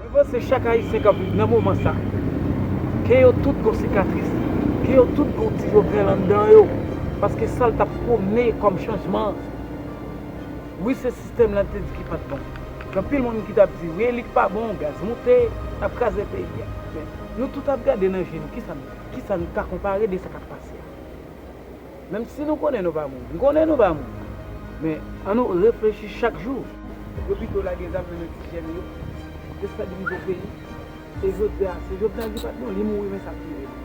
Mwen panse chak ayisyen kap viv nan moman sa, kè yo tout gon sikatris, kè yo tout gon ti Jovenel anndan yo, paske sal tap pwomne kòm chanjman, wi se sistèm la te di ki pat bon, gen anpil moun ki tap di wi elit pa bon, gaz moute, nap kraze peyi a. Nou tout ap gade nan je nou, kisa nou ka konpare de sa k ap pase a? Menm si nou konnen nou pa moun, m konnen nou pa moun, men an nou reflechi chak jou. Yo pito lage zam nan men ti jèn yo, destabilize yon peyi, e jodi a se Jovenel ki pat bon, li mouri men sa ap rive nou.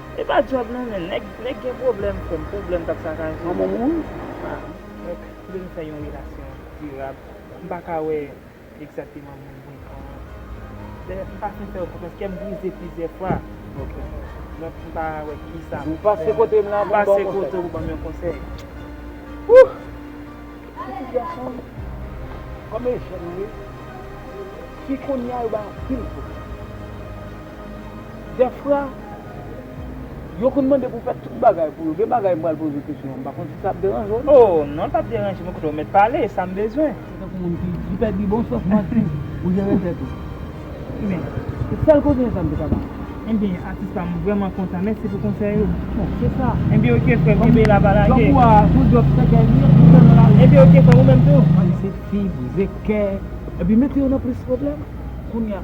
Epa job non men nèg gen pwoblèm frèm pwoblèm kap sakaje yon moun donk poul fè yon relasyon dirab mpaka wè egzateman moun moun pran mpa fin fèw konfyans kèm brize plizyè fwa donk mpa wè kisa poum fè mpase kotew pou banm yon konsèy ooh pitit gason kòm e jèn vre fi kounya yo bay anpil pwoblèm. Dèfra, yo konn mande pou fè tout bagay pou yo. Gen bagay m pral poze w kesyon, m pa konn si sa ap deranje w. O, non, l pap deranje m, koute, w mèt pale, sa m bezwen. Se tankou moun ki pèdi bon sans m ap di ou jere tèt ou. Ebyen. Se sèl konsèy sa m te ka ba w. Ebyen, atis pa m, m vrèman kontan. Mèsi pou konsèy ou. Bon, se sa. Ebyen ok frè m, kenbe la pa lage. Djòb ou a, son djòb sèkèy li ye, ou sèlman lage. Ebyen ok frè m, ou menm tou. Pale sèkti, brize kè, epi mete yo nan plis pwoblèm. Kounya,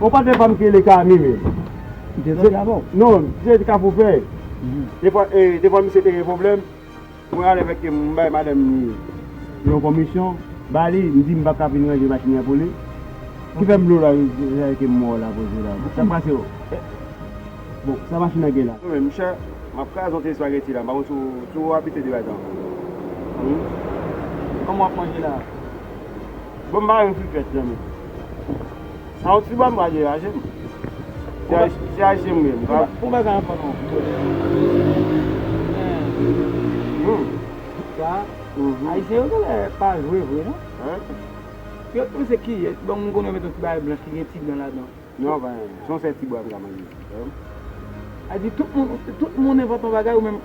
Bon patnè pam ki rele Kami menm. Kite zòn nan bon. Non se te kafou fèy. Defwa defwa misye te gen pwoblèm mwen ale fè kem m bay madanm ni yon konmisyon ba li m di m paka vin ranje machin nan pou li ki fè m lo la zay kem mò la poze la sak pase o bon sa machin nan gen la. Mwen menm chè map kraze yon ti espageti la m pa konn si w tou abitye de bagay sa humm. Kòman wap manje la. Bon m pa renmn frikèt zanmim. Sa ou ti banm pa deraje m. Se ayisyen m ye. Bon bagay anko non. Sa ayisyen yo genlè pa jwe vre non. Yo panse ki yè. Bon m konnen yo met yon ti bagay blanch ki gen ti dan ladan. Non pa yon. Son sèl ti bwa m ka manje. Adi tout moun tout moun envante yon bagay ou menm.